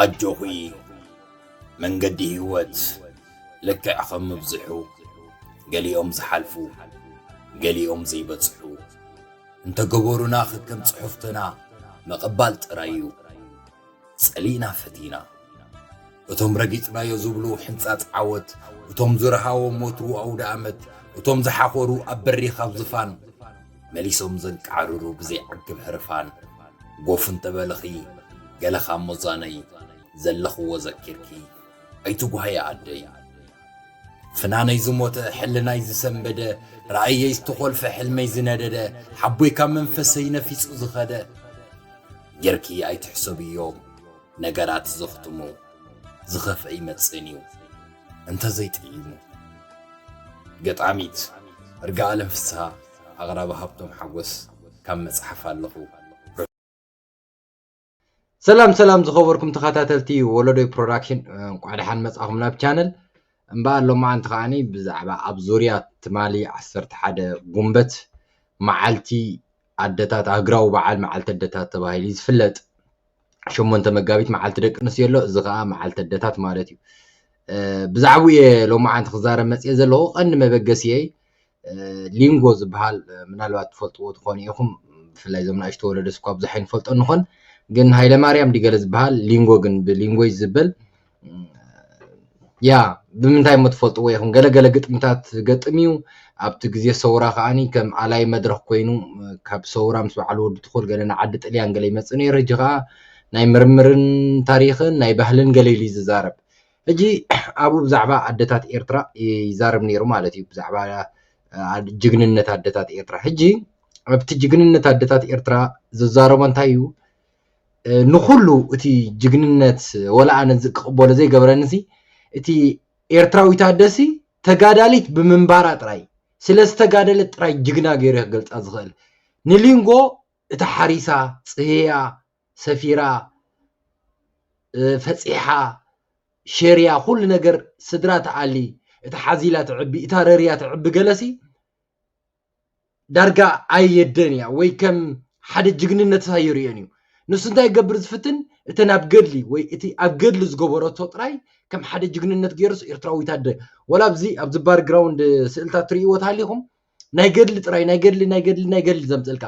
ኣጆኺ መንገዲ ህይወት ልክዕ ኸም ምብዝሑ ገሊኦም ዝሓልፉ ገሊኦም ዘይበጽሑ እንተገበሩና ኽከም ጽሑፍትና ምቕባል ጥራይ እዩ ጸሊእና ፈቲና እቶም ረጊጽናዮ ዝብሉ ሕንጻጽ ዓወት እቶም ዝረሃዎም ወትሩ ኣውደ ኣመት እቶም ዝሓኾሩ ኣብ በሪኽ ኣብ ዝፋን መሊሶም ዘንቃዕርሩ ብዘይዓግብ ህርፋን ጎፍ እንተበልኺ ገለ ካብ ሞዛነይ ዘለኽዎ ዘኪርኪ ኣይትጉሃዪ ኣደይ ፍናነይ ዝሞተ ሕልናይ ዝሰንበደ ራእየይ ዝተኾልፈ ሕልመይ ዝነደደ ሓቦይ ካብ መንፈሰይ ነፊጹ ዝኸደ ጌርኪ ኣይትሕሰብዮም ነገራት ዘኽትሙ ዝኸፍአ ይመጽእን እዩ እንተዘይጥዒሙ። ገጣሚት እርጋኣለም ፍስሃ ኣቕራቢ ሃብቶም ሓጎስ ካብ መጽሓፍ ኣለኹ ሰላም ሰላም ዝኸበርኩም ተኸታተልቲ ወለዶይ ፕሮዳክሽን እንኳዕ ደሓን መፃኹም ናብ ቻነል እምበኣር ሎማዓንቲ ከዓኒ ብዛዕባ ኣብ ዙርያ ትማሊ 11 ጉንበት መዓልቲ ኣደታት ሃገራዊ በዓል መዓልቲ ኣደታት ተባሂሉ ዝፍለጥ ሸሞንተ መጋቢት መዓልቲ ደቂ ኣንስትዮ ኣሎ እዚ ከዓ መዓልቲ ኣደታት ማለት እዩ ብዛዕባኡ እየ ሎማዓንቲ ክዛረብ መፅኤ ዘለኹ ቀንዲ መበገሲየይ ሊንጎ ዝበሃል ምናልባት ትፈልጥዎ ትኾኑ ኢኹም ብፍላይ እዞም ናእሽቶ ወለደስ እኳ ብዙሕ ኣይንፈልጦ ንኾን ግን ሃይለማርያም ዲገለ ዝበሃል ሊንጎ ግን ብሊንጎ ይዝበል ያ ብምንታይ እሞ ትፈልጥዎ ኢኹም ገለ ገለ ግጥምታት ዝገጥም እዩ ኣብቲ ግዜ ሰውራ ከዓኒ ከም ኣላይ መድረኽ ኮይኑ ካብ ሰውራ ምስ በዓል ወዲ ትኹል ገለ ንዓዲ ጥልያን ገለ ይመጽእ ነይሩ ሕጂ ከኣ ናይ ምርምርን ታሪኽን ናይ ባህልን ገለ ኢሉ እዩ ዝዛረብ ሕጂ ኣብኡ ብዛዕባ ኣደታት ኤርትራ ይዛረብ ነይሩ ማለት እዩ ብዛዕባ ጅግንነት ኣደታት ኤርትራ ሕጂ ኣብቲ ጅግንነት ኣደታት ኤርትራ ዝዛረቦ እንታይ እዩ ንኹሉ እቲ ጅግንነት ወላ ኣነ እዚ ክቕበሎ ዘይገብረኒ ሲ እቲ ኤርትራዊት ኣደሲ ተጋዳሊት ብምንባራ ጥራይ ስለ ዝተጋደለት ጥራይ ጅግና ገይሩ እየ ክገልጻ ዝኽእል ንሊንጎ እቲ ሓሪሳ ጽህያ ሰፊራ ፈጺሓ ሸርያ ኩሉ ነገር ስድራ ትኣሊ እታ ሓዚላ ትዕቢ እታ ረርያ ትዕቢ ገለሲ ዳርጋ ኣየደን እያ ወይ ከም ሓደ ጅግንነት ኣይርእዮን እዩ ንሱ እንታይ ይገብር ዝፍትን እተን ኣብ ገድሊ ወይ እቲ ኣብ ገድሊ ዝገበረቶ ጥራይ ከም ሓደ ጅግንነት ገይሩስ ኤርትራዊት ኣደ ወላ ኣብዚ ኣብዚ ባርግራውንድ ስእልታት ትርእይዎ ተሃሊኹም ናይ ገድሊ ጥራይ ናይ ገድሊ ናይ ገድሊ ናይ ገድሊ ዘምፅልካ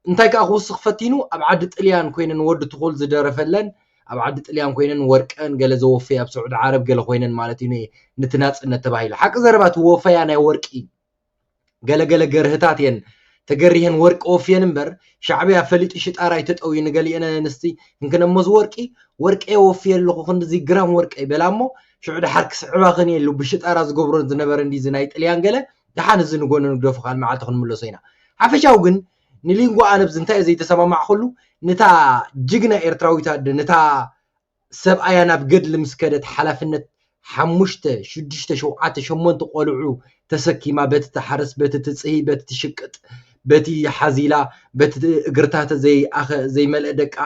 እንታይ ከዓ ክውስኽ ፈቲኑ ኣብ ዓዲ ጥልያን ኮይነን ወዲ ትኹል ዝደረፈለን ኣብ ዓዲ ጥልያን ኮይነን ወርቀን ገለ ዘወፈያ ኣብ ስዑዲ ዓረብ ገለ ኮይነን ማለት እዩ ንቲ ናጽነት ተባሂሉ ሓቂ ዘረባ እቲ ወፈያ ናይ ወርቂ ገለ ገለ ገርህታት እየን ተገሪሀን ወርቂ ወፍየን እምበር ሻዕብያ ፈሊጡ ሽጣራ ይተጠውዩ ንገሊአን ኣንስቲ እንክነሞዝ ወርቂ ወርቀ ወፍየ ኣለኹ ክንዲዚ ግራም ወርቀ ይበላ እሞ ሽዑ ድሓር ክስዕባኽን እየ ኢሉ ብሽጣራ ዝገብሮ ዝነበረ እንዲዚ ናይ ጥልያን ገለ ድሓን እዚ ንጎኒ ንግደፉ ካል መዓልቲ ክንምለሶ ኢና ሓፈሻዊ ግን ንሊንጎ ኣለብዝ እንታይ ዘይተሰማማዕኩሉ ንታ ጅግና ኤርትራዊት ኣደ ንታ ሰብኣያ ናብ ገድሊ ምስ ከደት ሓላፍነት ሓሙሽተ ሽዱሽተ ሸውዓተ ሸሞንተ ቆልዑ ተሰኪማ በቲ ትሓርስ በቲ ትጽሂ በቲ ትሽቅጥ በቲ ሓዚላ በቲ እግርታተ ዘይኣኸ ዘይመልአ ደቃ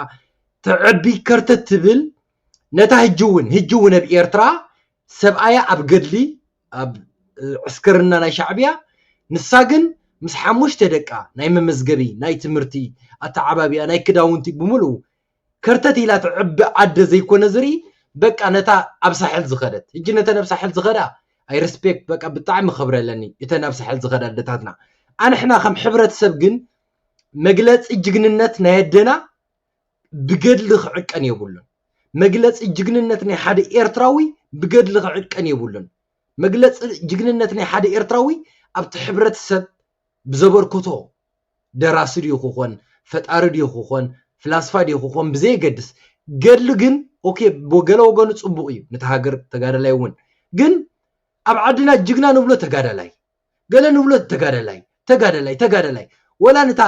ተዕቢ ከርተት ትብል ነታ ህጂ እውን ህጂ እውን ኣብ ኤርትራ ሰብኣያ ኣብ ገድሊ ኣብ ዕስክርና ናይ ሻዕብያ ንሳ ግን ምስ ሓሙሽተ ደቃ ናይ መመዝገቢ ናይ ትምህርቲ ኣተዓባብያ ናይ ክዳውንቲ ብምልኡ ከርተት ኢላ ትዕቢ ኣደ ዘይኮነ ዝርኢ በቃ ነታ ኣብ ሳሕል ዝኸደት ሕጂ ነተን ኣብ ሳሕል ዝኸዳ ኣይ ረስፔክት በቃ ብጣዕሚ ክብሪ ኣለኒ እተን ኣብ ሳሕል ዝኸዳ ኣደታትና ኣንሕና ከም ሕብረተሰብ ግን መግለጺ ጅግንነት ናይ ኣደና ብገድሊ ክዕቀን የብሉን። መግለጺ ጅግንነት ናይ ሓደ ኤርትራዊ ብገድሊ ክዕቀን የብሉን። መግለጺ ጅግንነት ናይ ሓደ ኤርትራዊ ኣብቲ ሕብረተሰብ ብዘበርከቶ ደራሲ ድዩ ክኾን ፈጣሪ ድዩ ክኾን ፍላስፋ ድዩ ክኾን ብዘየገድስ ገድሊ ግን ኦኬ ገለ ወገኑ ጽቡቕ እዩ ነታ ሃገር ተጋዳላይ እውን ግን ኣብ ዓድና ጅግና ንብሎ ተጋዳላይ ገለ ንብሎ ተጋዳላይ ተጋዳላይ ተጋዳላይ ወላ ንታ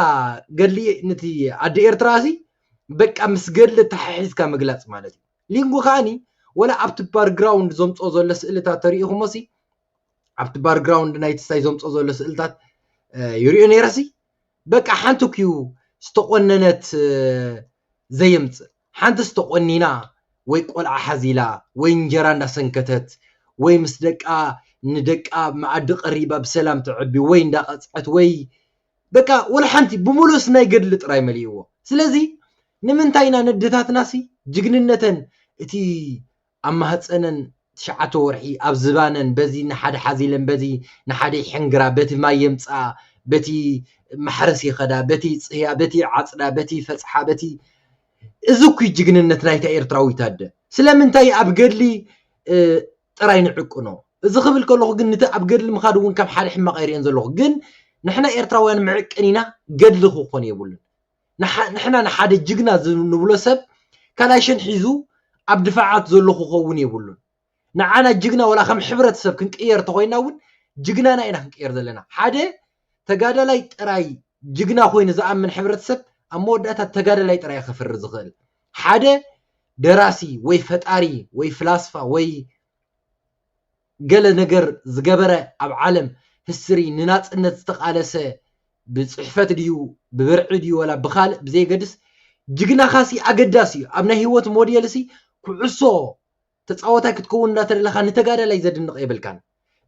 ገድሊ ንቲ ኣደ ኤርትራ ሲ በቃ ምስ ገድሊ ተሓሒዝካ ምግላጽ ማለት እዩ ሊንጎ ከዓኒ ወላ ኣብቲ ባርግራውንድ ዘምጽኦ ዘሎ ስእልታት ተሪኢኹሞ ሲ ኣብቲ ባርግራውንድ ናይ ትስታይ ዘምጽኦ ዘሎ ስእልታት ይሪኦ ነይረ ሲ በቃ ሓንቲ ኩዩ ዝተቆነነት ዘየምጽእ ሓንትስ ተቖኒና ወይ ቆልዓ ሓዚላ ወይ እንጀራ እንዳሰንከተት ወይ ምስ ደቃ ንደቃ መኣዲ ቀሪባ ብሰላም ተዕቢ ወይ እንዳቐጽዐት ወይ በቃ ወላሓንቲ ብሙሉእስ ናይ ገድሊ ጥራይ መሊእዎ ስለዚ ንምንታይ ኢና ነደታትናሲ ጅግንነተን እቲ ኣብ ማህጸነን ትሽዓተ ወርሒ ኣብ ዝባነን በዚ ንሓደ ሓዝ ኢለን በዚ ንሓደ ይሕንግራ በቲ ማይ የምጽኣ በቲ ማሕረስ ይኸዳ በቲ ይጽህያ በቲ ይዓጽዳ በቲ ይፈጽሓ በቲ እዚ እኩይ ጅግንነት ናይታ ኤርትራዊት ኣደ ስለምንታይ ኣብ ገድሊ ጥራይ ንዕቅኖ እዚ ክብል ከለኹ ግን ንቲ ኣብ ገድሊ ምኻድ እውን ከም ሓደ ሕማቕ ኣይርእዮን ዘለኹ ግን ንሕና ኤርትራውያን መዕቀኒና ገድሊ ክኾን የብሉን ንሕና ንሓደ ጅግና ንብሎ ሰብ ካላሽን ሒዙ ኣብ ድፋዓት ዘሎ ክኸውን የብሉን። ንዓና ጅግና ወላ ከም ሕብረተሰብ ክንቅየር እንተኾይና እውን ጅግናና ኢና ክንቅየር ዘለና። ሓደ ተጋዳላይ ጥራይ ጅግና ኮይኑ ዝኣምን ሕብረተሰብ ኣብ መወዳእታ ተጋዳላይ ጥራይ ከፍሪ ዝኽእል። ሓደ ደራሲ ወይ ፈጣሪ ወይ ፍላስፋ ወይ ገለ ነገር ዝገበረ ኣብ ዓለም ህስትሪ ንናጽነት ዝተቃለሰ ብጽሕፈት ድዩ ብብርዒ ድዩ ወላ ብካልእ ብዘየገድስ ጅግናካሲ ኣገዳሲ እዩ ኣብ ናይ ሂወት ሞዴልሲ ኩዕሶ ተጻወታይ ክትከውን እንዳተደለካ ንተጋዳላይ ዘድንቅ የብልካን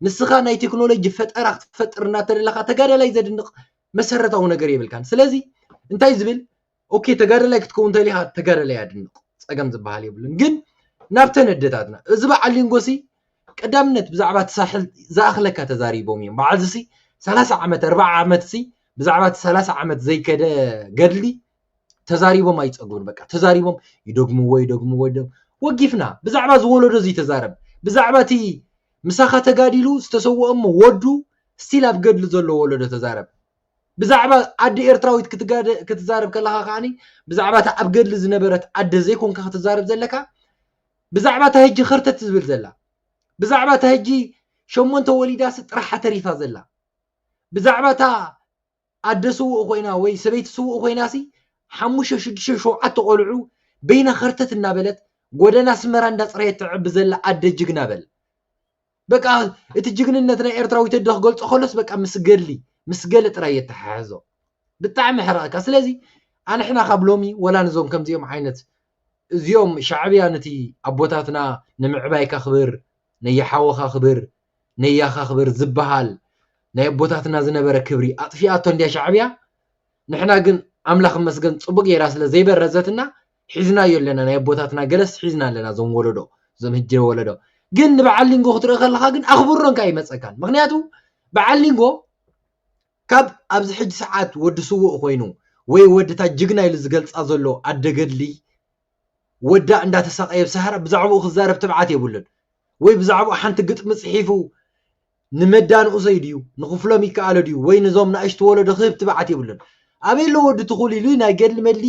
ንስካ ናይ ቴክኖሎጂ ፈጠራ ክትፈጥር እንዳተደለካ ተጋዳላይ ዘድንቅ መሰረታዊ ነገር የብልካን ስለዚ እንታይ ዝብል ኦኬ ተጋዳላይ ክትከውን ተሊኻ ተጋዳላይ ኣድንቕ ጸገም ዝበሃል የብሉን ግን ናብተን ኣደታትና እዚ በዓል ሊንጎሲ ቀዳምነት ብዛዕባ እቲ ሳሕል ዝኣኽለካ ተዛሪቦም እዮም በዓል ዝሲ ሰላሳ ዓመት ኣርባዓ ዓመት ሲ ብዛዕባ እቲ ሰላሳ ዓመት ዘይከደ ገድሊ ተዛሪቦም ኣይጸግቡን በቃ ተዛሪቦም ይደግምዎ ይደግምዎ ይደግም ወጊፍና ብዛዕባ ዝወለዶ እዚ ተዛረብ ብዛዕባ እቲ ምሳኻ ተጋዲሉ ዝተሰወኦ እሞ ወዱ ስቲል ኣብ ገድሊ ዘሎ ወለዶ ተዛረብ ብዛዕባ ኣደ ኤርትራዊት ክትዛረብ ከለኻ ከኣ ብዛዕባ እታ ኣብ ገድሊ ዝነበረት ኣደ ዘይኮንካ ክትዛረብ ዘለካ ብዛዕባ እታ ሕጂ ከርተት ዝብል ዘላ ብዛዕባ እታ ሕጂ ሸሞንተ ወሊዳሲ ጥራሓ ተሪፋ ዘላ ብዛዕባ እታ ኣደ ስውእ ኮይና ወይ ሰበይቲ ስውእ ኮይናሲ ሓሙሽተ ሽዱሽተ ሸውዓተ ቆልዑ በይና ከርተት እናበለት ጎደና ኣስመራ እንዳፅረየት ተዕቢ ዘላ ኣደ ጅግና በል በቃ እቲ ጅግንነት ናይ ኤርትራዊ ተዶ ክገልጾ ከሎስ በቃ ምስ ገድሊ ምስ ገለ ጥራይ የተሓሕዞ ብጣዕሚ ሕረቐካ ስለዚ ኣንሕና ካብ ሎሚ ወላ ንዞም ከምዚኦም ዓይነት እዚኦም ሻዕብያ ነቲ ኣቦታትና ንምዕባይካ ክብር ነየሓወኻ ክብር ነያኻ ክብር ዝበሃል ናይ ኣቦታትና ዝነበረ ክብሪ ኣጥፊኣቶ እንድያ ሻዕብያ ንሕና ግን ኣምላኽ መስገን ጽቡቅ ጌራ ስለ ዘይበረዘትና ሒዝናዮ ኣለና ናይ ኣቦታትና ገለስ ሒዝና ኣለና እዞም ወለዶ እዞም ህጂ ወለዶ ግን ንበዓል ሊንጎ ክትርኢ ከለኻ ግን ኣኽብሮ እንካ ይመፀካን ምክንያቱ በዓል ሊንጎ ካብ ኣብዚ ሕጂ ሰዓት ወዲ ስውእ ኮይኑ ወይ ወዲ እታ ጅግና ኢሉ ዝገልፃ ዘሎ ኣደ ገድሊ ወዳ እንዳተሳቀየ ብሳህራ ብዛዕባኡ ክዛረብ ትብዓት የብሉን ወይ ብዛዕባኡ ሓንቲ ግጥሚ ፅሒፉ ንመዳ ንኡሰይ ድዩ ንክፍሎም ይከኣሎ ድዩ ወይ ንዞም ንእሽቲ ወለዶ ክህብ ትብዓት የብሉን ኣበይ ኣሎ ወዲ ትኹል ኢሉ ናይ ገድሊ መድሊ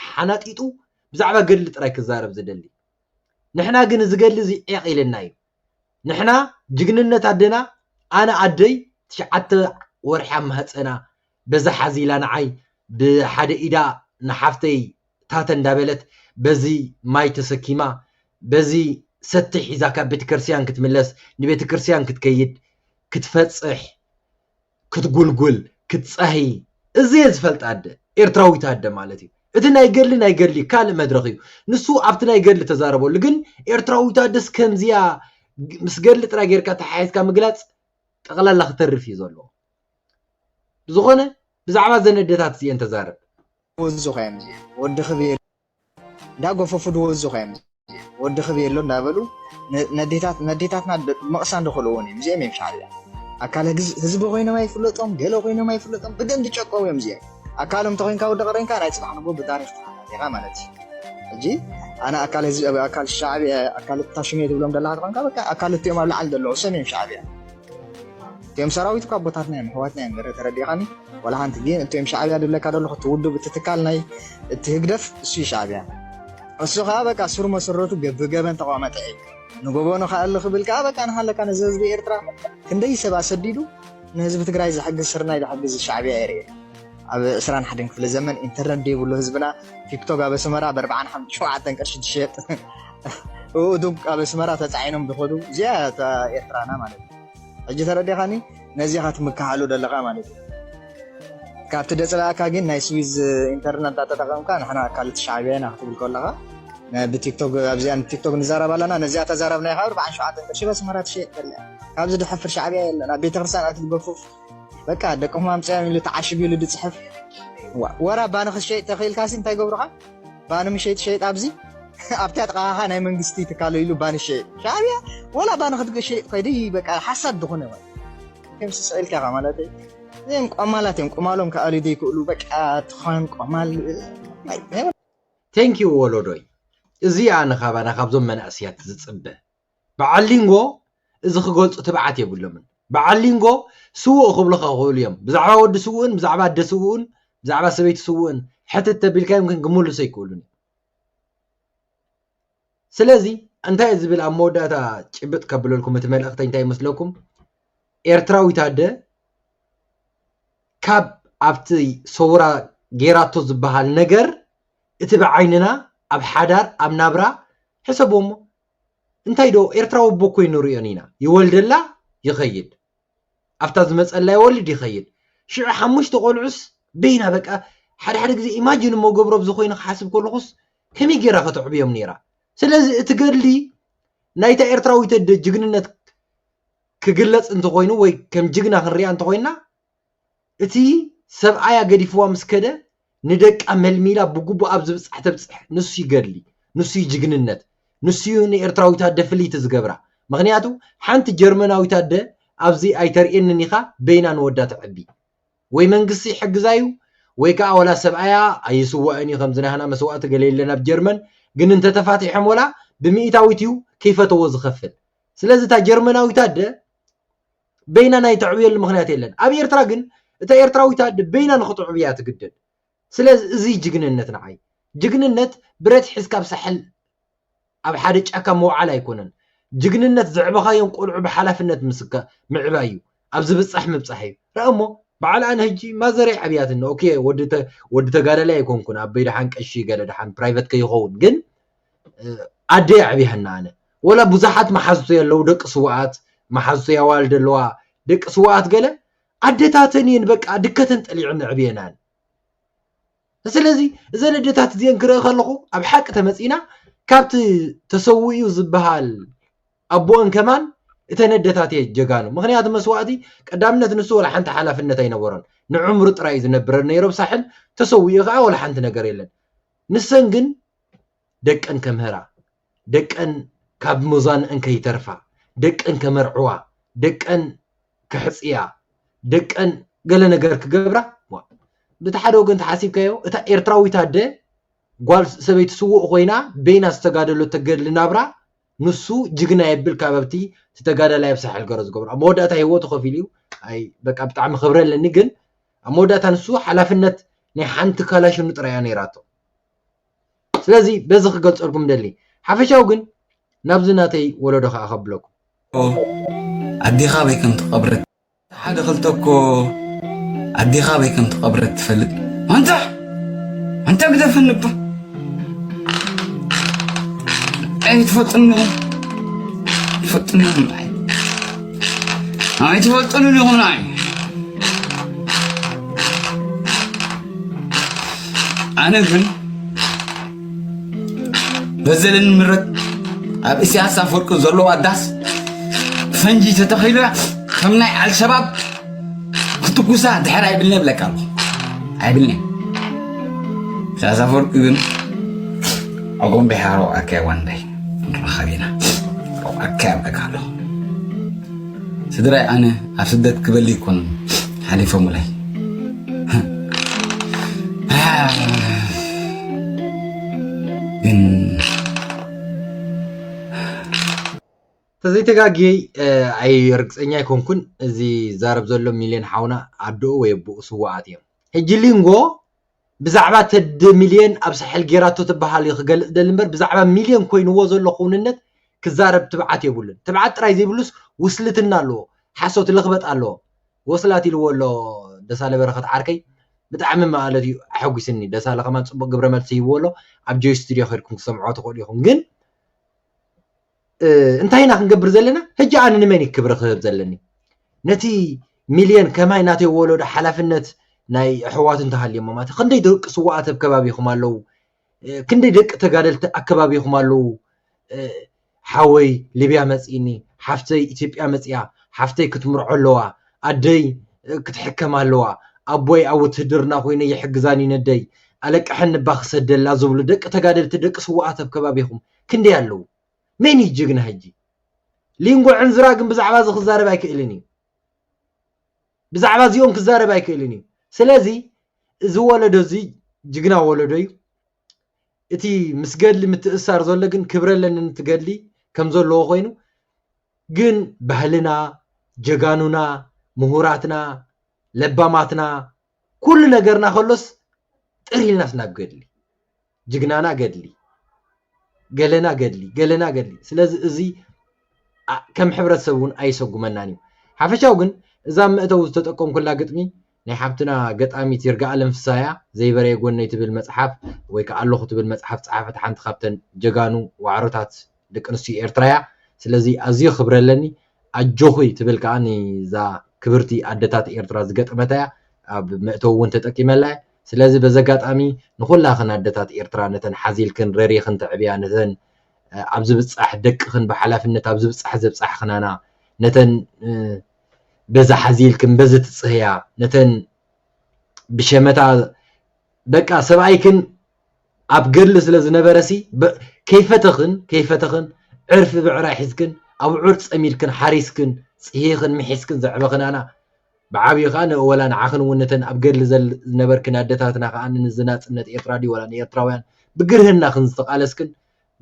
ሓናጢጡ ብዛዕባ ገድሊ ጥራይ ክዛረብ ዝደሊ ንሕና ግን እዚ ገድሊ እዚ ዒቅ ኢልና እዩ ንሕና ጅግንነት ኣደና ኣነ ኣደይ ትሽዓተ ወርሒ ኣብ ማህጸና በዛ ሓዚ ኢላ ንዓይ ብሓደ ኢዳ ንሓፍተይ ታተ እንዳበለት በዚ ማይ ተሰኪማ በዚ ሰቲ ሒዛ ካብ ቤተክርስቲያን ክትምለስ ንቤተክርስቲያን ክትከይድ ክትፈጽሕ ክትጉልጉል ክትጻሂ እዚየ ዝፈልጣ ኣደ ኤርትራዊት ኣደ ማለት እዩ እቲ ናይ ገድሊ ናይ ገድሊ ካልእ መድረኽ እዩ ንሱ ኣብቲ ናይ ገድሊ ተዛረበሉ ግን ኤርትራዊት ኣደስ ከምዚያ ምስ ገድሊ ጥራይ ጌርካ ተሓሒዝካ ምግላጽ ጠቕላላ ክተርፍ እዩ ዘለዎ ብዝኾነ ብዛዕባ ዘን ኣደታት እዚኤን ተዛረብ ወዲ ክቤል እንዳ ጎፈፉ ድወዙ ከዮም እዚኦም ወዲ ክብየሎ እንዳበሉ ነዴታት ነዴታትና መቕሳን ድኽልዎም እዮም እዚኦም እዮም ሻዕብያ ኣካል ህዝቢ ኮይኖም ኣይፍለጦም ገለ ኮይኖም ኣይፍለጦም ብደም ድጨቀው እዮም እዚኦም ኣካሎም ተኮይንካ ወዲ ቀረንካ ናይ ፅባሕ ንጎ ብታሪክ ተሓታቲኻ ማለት እዩ ሕጂ ኣነ ኣካል ህዝቢ ኣካል ሻዕብያ ኣካል ታሽሜ ትብሎም ደለካ ተኮንካ በቃ ኣካል እትኦም ኣብ ላዕሊ ደለዉ ሰም እዮም ሻዕብያ እቶም ሰራዊት እኳ ኣቦታትና እዮም ኣሕዋትና እዮም ገረ ተረዲኻኒ ዋላ ሓንቲ ግን እቶም ሻዕብያ ድብለካ ደለኹ እቲ ውድብ እቲ ትካል ናይ እቲ ህግደፍ እሱ እዩ ሻዕብያ እሱ ከዓ በቃ ስሩ መሰረቱ ብገበን ተቋመጠ እዩ ንጎበኑ ከዓ እልኽ ብል ከዓ በቃ ንሃለካ ነዚ ህዝቢ ኤርትራ ክንደይ ሰብ ኣሰዲዱ ንህዝቢ ትግራይ ዝሕግዝ ስርናይ ዝሕግዝ ሻዕብያ የርኢ ኣብ 21 ክፍለ ዘመን ኢንተርነት ዘይብሉ ህዝብና ቲክቶክ ኣብ ኣስመራ ብ4 ሸውዓተን ቅርሺ ትሸጥ እኡዱግ ኣብ ኣስመራ ተጻዒኖም ዝኸዱ እዚኣ እያ እታ ኤርትራና ማለት እዩ ሕጂ ተረዲኻኒ ነዚ ኢኻ ትምክሓሉ ዘለኻ ማለት እዩ ካብቲ ደፅላእካ ግን ናይ ስዊዝ ኢንተርነት እንዳተጠቐምካ ንሕና ኣካልቲ ሻዕብያ ኢና ክትብል ከለኻ ብቲክቶክ ኣብዚኣ ቲክቶክ ንዛረብ ኣለና ነዚኣ ተዛረብ ናይ ካብ በዓል ሸውዓተ ቅርሺ በስመራ ትሸየጥ ከላ ካብዚ ድሕፍር ሻዕብያ የለን ኣብ ቤተክርስትያን ኣቲ ትገፉፍ በቃ ደቅኹም ኣምፅኦም ኢሉ ተዓሽጉ ኢሉ ድፅሕፍ ወራ ባኒ ክትሸይጥ ተኽኢልካሲ እንታይ ገብሩኻ ባኒ ምሸይጥ ሸይጥ ኣብዚ ኣብታ ጥቃኻ ናይ መንግስቲ ትካሎ ኢሉ ባኒ ሸይጥ ሻዕብያ ወላ ባኒ ክትሸይጥ ኮይዲ በቃ ሓሳድ ዝኾነ ከም ስስዕልካ ኢኻ ማለት እዚኦም ቆማላት እዮም ቁማሎም ክኣልዩ ዘይክእሉ በቃ ትኾን ቆማል ቴንኪው ወሎዶይ እዚ ኣነ ካባና ካብዞም መናእስያት ዝፅበ በዓል ሊንጎ እዚ ክገልጹ ትብዓት የብሎምን በዓል ሊንጎ ስዉእ ክብሉኻ ይኽእሉ እዮም ብዛዕባ ወዲ ስዉእን ብዛዕባ ኣደ ስዉእን ብዛዕባ ሰበይቲ ስዉእን ሕትት ተቢልካዮም ግን ክምልሱ ኣይክእሉን ስለዚ እንታይ እዩ ዝብል ኣብ መወዳእታ ጭብጥ ከብለልኩም እቲ መልእኽተይ እንታይ ይመስለኩም ኤርትራዊት ኣደ ካብ ኣብቲ ሰውራ ጌራቶ ዝበሃል ነገር እቲ ብዓይንና ኣብ ሓዳር ኣብ ናብራ ሕሰቦሞ እንታይ ዶ ኤርትራዊ ኣቦ ኮይኑ ንሪኦን ኢና ይወልደላ ይኸይድ ኣብታ ዝመጸላ ይወልድ ይኸይድ ሽዑ ሓሙሽተ ቆልዑስ በይና በቃ ሓደ ሓደ ግዜ ኢማጂን እሞ ገብሮ ኣብዚ ኮይኑ ክሓስብ ከለኹስ ከመይ ጌራ ከተዕብዮም ነይራ ስለዚ እቲ ገድሊ ናይታ ኤርትራዊት ኣደ ጅግንነት ክግለጽ እንተኾይኑ ወይ ከም ጅግና ክንሪኣ እንተኾይና እቲ ሰብኣያ ገዲፍዋ ምስ ከደ ንደቃ መልሚላ ብግቡእ ኣብ ዝብጻሕ ተብጽሕ ንሱ ዩ ገድሊ ንሱ ዩ ጅግንነት ንሱ ዩ ንኤርትራዊት ኣደ ፍልይቲ ዝገብራ ምኽንያቱ ሓንቲ ጀርመናዊት ኣደ ኣብዚ ኣይተርእየንን ኢኻ በይና ንወዳ ተዕቢ ወይ መንግስቲ ይሕግዛ ዩ ወይ ከኣ ወላ ሰብኣያ ኣይስዋእን ዩ ከምዚ ናህና መስዋእቲ ገለ የለን ኣብ ጀርመን ግን እንተ ተፋቲሖም ወላ ብሚኢታዊት ዩ ከይፈተዎ ዝኸፍል ስለዚ እታ ጀርመናዊት ኣደ በይና ናይ ተዕብየሉ ምክንያት የለን ኣብ ኤርትራ ግን እታ ኤርትራዊት ኣደ በይና ንክትዕቢ እያ ትግደድ ስለዝ እዚ እዩ ጅግንነት ንዓይ ጅግንነት ብረት ሒዝካ ኣብ ሳሕል ኣብ ሓደ ጫካ ምውዓል ኣይኮነን ጅግንነት ዘዕበኻዮም ቆልዑ ብሓላፍነት ምስካ ምዕባይ እዩ ኣብ ዝብጻሕ ምብጻሕ እዩ ረኣ እሞ በዓል ኣነ ህጂ ማዘረይ ዓብያትኒ ኦኬ ወዲ ወዲ ተጋዳላይ ኣይኮንኩን ኣበይ ደሓን ቀሺ ገለ ደሓን ፕራይቨት ከይኸውን ግን ኣደይ ኣዕብያኒ ኣነ ወላ ቡዛሓት ማሓዙተይ ኣለዉ ደቂ ስዋኣት ማሓዙተይ ኣዋልድ ኣለዋ ደቂ ስዋኣት ገለ ኣደታተን እየን በቃ ድከተን ጠሊዐን ኣዕብየናን ስለዚ እዘን ኣደታት እዚኤን ክርኢ ከለኹ ኣብ ሓቂ ተመጺና ካብቲ ተሰዊኡ ዝበሃል ኣቦኦን ከማን እተን ኣደታት እየ ጀጋኑ ምክንያቱ መስዋእቲ ቀዳምነት ንሱ ወላ ሓንቲ ሓላፍነት ኣይነበሮን ንዕምሩ ጥራይ ዝነብረ ነይሮ ሳሕል ተሰዊኡ ከዓ ወላ ሓንቲ ነገር የለን ንሰን ግን ደቀን ከምህራ፣ ደቀን ካብ መዟንኣን ከይተርፋ፣ ደቀን ከመርዕዋ፣ ደቀን ከሕጽያ፣ ደቀን ገለ ነገር ክገብራ፣ ዋእ! በቲ ሓደ ወገን ተሓሲብካዮ እታ ኤርትራዊት ኣደ ጓል ሰበይቲ ስዉእ ኮይና በይና ዝተጋደለቶ ገድሊ ናብራ ንሱ ጅግና የብል ካብ ኣብቲ እቲ ተጋዳላይ ኣብ ሳሕል ገሮ ዝገብሮ ኣብ መወዳእታ ህይወቱ ከፊሉ እዩ ኣይ በቃ ብጣዕሚ ክብሪ ኣለኒ ግን ኣብ መወዳእታ ንሱ ሓላፍነት ናይ ሓንቲ ካላሽኑ ጥራይ እያ ነይራቶ ስለዚ በዚ ክገልጸልኩም ደሊ ሓፈሻዊ ግን ናብዚ ናተይ ወለዶ ከኣ ከብለኩም። ኣዴኻ ኣበይ ከም ተቐብረት ሓደ ክልተ እኮ ኣዴኻ ኣበይ ከም ተቐብረት ትፈልጥ ኣንታ ኣንታ ግደፈኒ እባ ኣይ ትፈልጥኒ ትፈልጥኒ ይኹን ኣይ ኣይ ትፈልጥኒ ይኹን ኣይ ኣነ ግን በዘለኒ ምረት ኣብ እስያስ ኣፈወርቂ ዘለዎ ኣዳስ ፈንጂ ተተኺሉ ከም ናይ ኣልሸባብ ክትጉሳ ድሕር ኣይብልኒ የብለካ ኣሎ ኣይብልኒ እስያስ ኣፈወርቂ ግን ኣጎም ብሓሮ ኣካይ ዋንዳይ ንረኸብ ኢና ኣካይ ኣብለካ ኣለኹ ስድራይ ኣነ ኣብ ስደት ክበሊ ይኮኑ ሓሊፎሙለይ ግን ተዘይተጋግየ ኣይ ርግፀኛ ኣይኮንኩን እዚ ዛረብ ዘሎ ሚልዮን ሓውና ኣደኡ ወይ ኣቦኡ ስዋኣት እዮም ሕጂ ሊንጎ ብዛዕባ ተዲ ሚልዮን ኣብ ሳሕል ጌራቶ ትብሃል እዩ ክገልጽ ደሊ እምበር ብዛዕባ ሚልዮን ኮይንዎ ዘሎ ክውንነት ክዛረብ ትብዓት የብሉን ትብዓት ጥራይ ዘይብሉስ ውስልትና ኣለዎ ሓሶት ልኽበጥ ኣለዎ ወስላት ኢልዎ ኣሎ ደሳለ በረኸት ዓርከይ ብጣዕሚ ማለት እዩ ኣሐጒስኒ ደሳለ ከማን ጽቡቕ ግብረ መልሲ ሂብዎ ኣሎ ኣብ ጆይ ስቱድዮ ኬድኩም ክሰምዕዎ ትኽእሉ ኢኹም ግን እንታይ ኢና ክንገብር ዘለና ሕጂ ኣነ ንመን እዩ ክብሪ ክህብ ዘለኒ ነቲ ሚልዮን ከማይ ናተይ ወለዶ ሓላፍነት ናይ ኣሕዋት እንተሃልዮሞ ማለት ክንደይ ደቂ ስዋኣት ኣብ ከባቢኹም ኣለዉ ክንደይ ደቂ ተጋደልቲ ኣከባቢኹም ኣለዉ ሓወይ ሊብያ መፂእኒ ሓፍተይ ኢትዮጵያ መፅያ ሓፍተይ ክትምርዖ ኣለዋ ኣደይ ክትሕከም ኣለዋ ኣቦይ ኣብ ውትህድርና ኮይነ ይሕግዛኒ ነደይ ኣለቅሐን ንባ ክሰደላ ዝብሉ ደቂ ተጋደልቲ ደቂ ስዋኣት ኣብ ከባቢኹም ክንደይ ኣለዉ መን እዩ ጅግና ሕጂ ሊንጎ ዕንዝራ ግን ብዛዕባ እዚ ክዛረብ ኣይክእልን እዩ ብዛዕባ እዚኦም ክዛረብ ኣይክእልን እዩ ስለዚ እዚ ወለዶ እዚ ጅግና ወለዶ እዩ እቲ ምስ ገድሊ ምትእሳር ዘሎ ግን ክብረ ኣለኒ ንትገድሊ ከም ዘለዎ ኮይኑ ግን ባህልና ጀጋኑና ምሁራትና ለባማትና ኩሉ ነገርና ከሎስ ጥር ኢልናስ ናብ ገድሊ ጅግናና ገድሊ ገለና ገድሊ ገለና ገድሊ ስለዚ እዚ ከም ሕብረተሰብ እውን ኣይሰጉመናን እዩ ሓፈሻው ግን እዛ መእተዊ ዝተጠቀምኩላ ግጥሚ ናይ ሓብትና ገጣሚት ይርጋኣለም ፍሳያ ዘይበረየ ጎነይ ትብል መፅሓፍ ወይ ከዓ ኣለኹ ትብል መፅሓፍ ፀሓፈት ሓንቲ ካብተን ጀጋኑ ዋዕሮታት ደቂ ኣንስትዮ ኤርትራ እያ ስለዚ ኣዝዩ ክብሪ ኣለኒ ኣጆኺ ትብል ከኣ ንዛ ክብርቲ ኣደታት ኤርትራ ዝገጠመታ እያ ኣብ መእተዊ እውን ተጠቂመላ እየ ስለዚ በዚ ኣጋጣሚ ንኹላኽን ኣደታት ኤርትራ ነተን ሓዚልክን ረሪኽን ተዕብያ ነተን ኣብ ዝብጻሕ ደቅኽን ብሓላፍነት ኣብ ዝብጻሕ ዘብጻሕኽናና ነተን በዚ ሓዚልክን በዚ ትጽህያ ነተን ብሸመታ በቃ ሰብኣይክን ኣብ ገድሊ ስለ ዝነበረሲ ከይፈተኽን ከይፈተኽን ዕርፊ ብዕራይ ሒዝክን ኣቡዑር ጸሚድክን ሓሪስክን ጽሂኽን ምሒስክን ዘዕበኽናና ብዓብዩ ከኣ ንወላ ንዓኽን እውን ነተን ኣብ ገድሊ ዝነበርክን ኣደታትና ከኣ ንዚ ናጽነት ኤርትራ ድዩ ወላ ንኤርትራውያን ብግርህናኽን ዝተቓለስክን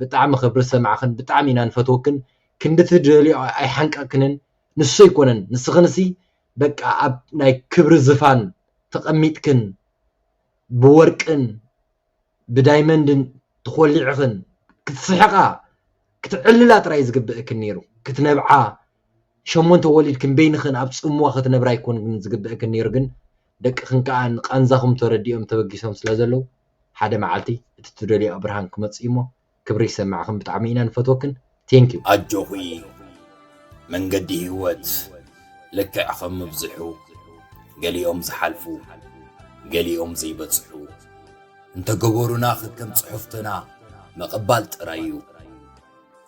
ብጣዕሚ ክብሪ ዝሰማዕኽን ብጣዕሚ ኢና ንፈትወክን ክንዲ ትደልዮ ኣይሓንቀቅክንን ንሱ ኣይኮነን ንስኽንሲ በቃ ኣብ ናይ ክብሪ ዝፋን ተቐሚጥክን ብወርቅን ብዳይመንድን ተኾሊዕኽን ክትስሕቓ ክትዕልላ ጥራይ ዝግበእክን ነይሩ። ክትነብዓ ሸሞንተ ወሊድክን በይንኽን ኣብ ጽምዋ ክትነብራ ኣይኮንክን ዝግበእክን ነይሩ ግን ደቅኽን ከኣ ንቃንዛኹም ተረዲኦም ተበጊሶም ስለዘለዉ ሓደ መዓልቲ እቲ ትደልዮኦ ብርሃን ክመጽእዩሞ ክብሪ ይሰመዕኽን ብጣዕሚ ኢና ንፈትወክን thank you። ኣጆኺ መንገዲ ሂወት ልክዕ ከም ምብዝሑ ገሊኦም ዝሓልፉ ገሊኦም ዘይበጽሑ እንተ ገበሩና ከከም ጽሑፍትና ምቕባል ጥራይ እዩ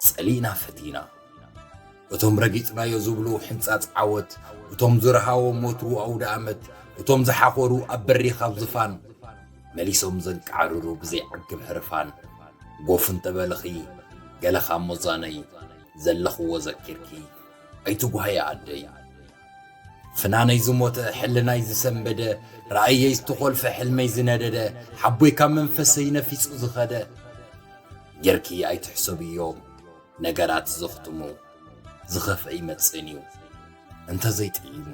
ጸሊእና ፈቲና እቶም ረጊጽናዮ ዝብሉ ሕንጻጽ ዓወት እቶም ዝረሃዎም ወትሩ ኣውደኣመት እቶም ዝሓኾሩ ኣብ በሪኽ ኣብ ዝፋን መሊሶም ዘንቃዕርሩ ብዘይዓግብ ህርፋን ጎፍ እንተበልኺ ገለ ካብ ሞዛነይ ዘለኽዎ ዘኪርኪ ኣይትጉሃዪ ኣደይ ፍናነይ ዝሞተ ሕልናይ ዝሰንበደ ራእየይ ዝተኾልፈ ሕልመይ ዝነደደ ሓቦይ ካብ መንፈሰይ ነፊጹ ዝኸደ ጌርኪ ኣይትሕሰብዮም ነገራት ዘኽትሙ ዝኸፍአ ይመጽእን እዩ እንተዘይጥዒሙ።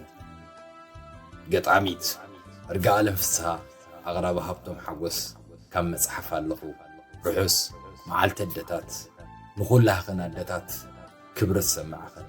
ገጣሚት እርጋኣለም ፍስሃ ኣቕራቢ ሃብቶም ሓጎስ ካብ መጽሓፍ ኣለኹ ርሑስ መዓልቲ ኣደታት ንኹላህኽን ኣደታት ክብሪ ዝሰማዕኽን።